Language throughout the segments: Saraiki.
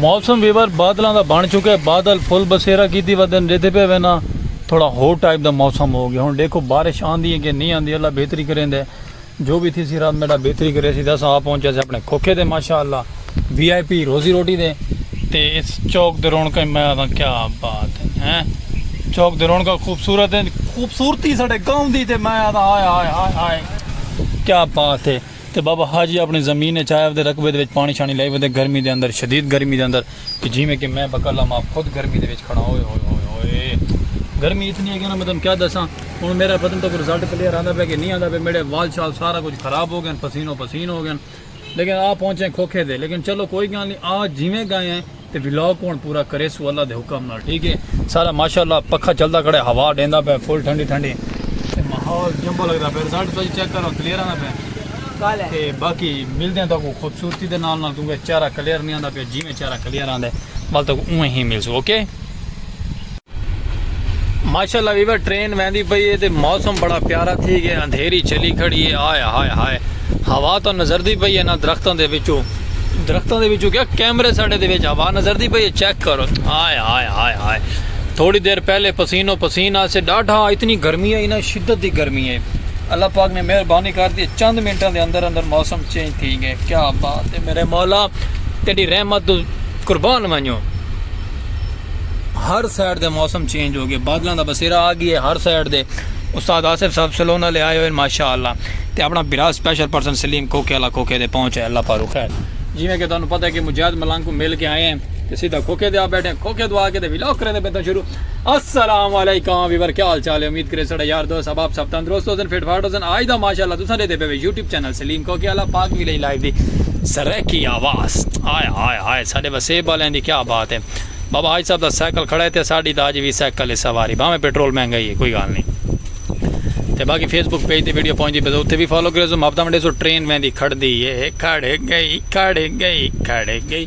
موسم ویور بادلاں دا بن چکے بادل فل بسیرا کیتی ودن ڈیدھے پے وینا تھوڑا ہو ٹائپ دا موسم ہو گیا ہن ڈیکھو بارش آندی ہے کہ نہیں آندی اللہ بہتری کریں دے جو بھی تھی سی رب میڈا بہتری کرے سی دس آ پہنچا سے اپنے کھوکھے دے ماشاءاللہ وی آئی پی روزی روٹی دے تے اس چوک دے رونکا میں آتا کیا بات ہے چوک دے رونکا خوبصورت ہے خوبصورتی ساڑے گاؤں دی تے میں آتا آئے آئے آئے آئے کیا بات ہے تے بابا حاجی اپݨی زمین اچ آئے ودے رقبے دے وچ پاݨی شاݨی لائی ودے گرمی دے اندر شدید گرمی دے اندر تے جیویں کہ میں بکلام آپ خود گرمی دے وچ کھڑا ہاں اوئے ہوئے ہوئے ہوئے ہوئے گرمی اتنی ہے کہ میں تانوں کیا دساں ہن میرا بدن تک رزلٹ کلیئر آندا پیا کہ نہیں آندا پیا میڈے وال شال سارا کچھ خراب ہو گئن پسینو پسین ہو گئن لیکن آ پہنچے کھوکھے تے لیکن چلو کوئی گالھ نہیں آ جیویں گئے ہیں تے ولاگ کون پورا کرے سو اللہ دے حکم نال ٹھیک ہے سارا ماشاءاللہ پکھا چلدا کھڑے ہوا ڈیندا پے فل ٹھنڈی ٹھنڈی تے ماحول جمبو لگدا پے رزلٹ تسی چیک کرو کلیئر آندا پے کالے تے باقی ملدے ہیں تاکو خوبصورتی دے نال نال کیونکہ چہرہ کلیئر نہیں آندا پے جی میں چہرہ کلیئر آندے مال تاکو اوے ہی ملسو اوکے okay? ماشاءاللہ ویور ٹرین ویندی پئی ہے تے موسم بڑا پیارا تھی گیا اندھیری چلی کھڑی ہے آئے ہائے ہائے ہوا تو نظر دی پئی ہے نا درختوں دے وچوں درختوں دے وچوں کیا کیمرے ساڑے دے وچ ہوا نظر دی پئی ہے چیک کرو آئے ہائے ہائے ہائے تھوڑی دیر پہلے پسین و پسین آسے ڈاڈھا اتنی گرمی ہے نا شدت دی گرمی ہے اللہ پاک نے مہربانی کر دی چند منٹوں دے اندر اندر موسم چینج تھی گئے کیا بات ہے میرے مولا تیری رحمت قربان منو ہر سائیڈ دے موسم چینج ہو گئے بادلاں دا بسیرا آ گیا ہے ہر سائیڈ دے استاد آصف صاحب سلون والے آئے ہوئے ماشاءاللہ تے اپنا برا سپیشل پرسن سلیم کوکے والا کوکے دے پہنچ ہے اللہ پارو خیر جویں کہ تانوں پتہ ہے کہ مجاہد ملنگ کو مل کے آئے ہیں تے سیدھا کوکے دے آ بیٹھے ہیں کوکے دو آ کے تے ولاگ کرے دے بیٹھے شروع السلام علیکم ویور کیا حال چال ہے امید کرے سڑا یار دوست احباب سب تندرست ہو سن فٹ فاٹ ہو سن آج دا ماشاءاللہ تساں دے دے پے یوٹیوب چینل سلیم کوکے آلا پاک ویلیج لائیو دی سرائیکی آواز آئے آئے آئے ساڈے وسیب آلیں دی کیا بات ہے بابا حاج صاحب دا سائیکل کھڑا ہے تے ساڈی دا اج وی سائیکل ہے سواری بھاویں پیٹرول مہنگا ہی ہے کوئی گال نہیں تے باقی فیس بک پیج تے ویڈیو پہنچ دی بزو تے بھی فالو کرے سو ماپتا منڈے سو ٹرین ویندی کھڑ دی ہے کھڑ گئی کھڑ گئی کھڑ گئی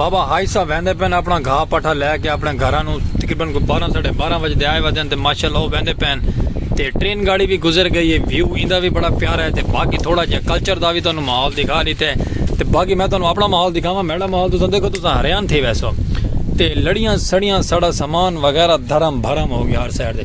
بابا ہائی صاحب ویندے پین اپنا گھا پٹھا لے کے اپنے گھراں نو تقریباً کوئی بارہ ساڑھے بارہ بجے دے آئے ودے ہیں تے ماشاءاللہ وہ ویندے پین تے ٹرین گاڑی بھی گزر گئی ہے ویو ایندا بھی بڑا پیارا ہے تے باقی تھوڑا جہا کلچر دا بھی تانوں ماحول دکھا لیتے ہیں تے باقی میں تانوں اپنا ماحول دکھاواں میڈا ماحول تساں دیکھو تساں حیران تھی ویسو تے لڑیاں سڑیاں سڑا سامان وغیرہ دھرم بھرم ہو گیا ہر سائڈ دے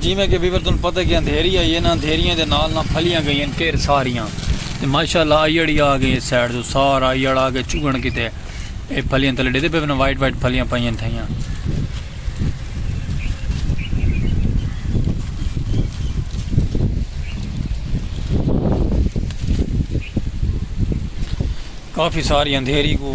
جیویں کہ ویور توں پتہ کہ اندھیری آئی ہے نا اندھیریاں دے نال نہ پھلیاں گئی ہیں ٹیر ساریاں تے ماشاءاللہ آئیڑی آ گئی ہے سائیڈ تو سارا آئیڑ آ گئے چگن کیتے اے پھلیاں تلے ڈیدے پہ وائٹ وائٹ پھلیاں پائیاں تھائیاں کافی ساری اندھیری کو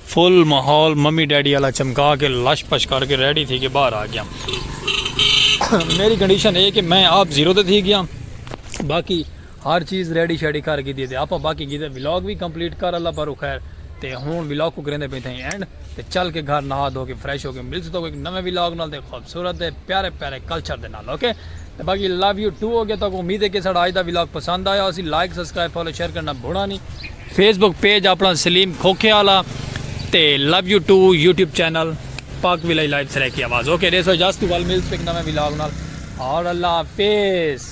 فل ماحول ممی ڈیڈی آلا چمکا کے لش پش کر کے ریڈی تھی کے باہر آ گیاں میری کنڈیشن اے کہ میں آپ زیرو تے تھی گیاں باقی ہر چیز ریڈی شیڈی کر گی دی تے آپ باقی گی دے ولاگ بھی کمپلیٹ کر اللہ پر خیر تے ہون ولاگ کو کریندے پہ تھے اینڈ تے چل کے گھر نہا دھو کے فریش ہو کے مل سکتا کوئی نوے ولاگ نال تے خوبصورت دے پیارے پیارے کلچر دے نال اوکے تے باقی لو یو ٹو اوکے تہاکوں امید ہے کہ ساڈا اج دا ولاگ پسند آیا ہوسی لائک سبسکرائب فالو شیئر کرنا بھونا نی فیس بک پیج اپنا سلیم کھوکھے آلا تے love you too YouTube channel Pak village live Saraiki آواز اوکے ڈیسو اجازت ول ملز پک نویں ولاگ نال اور اللہ حافظ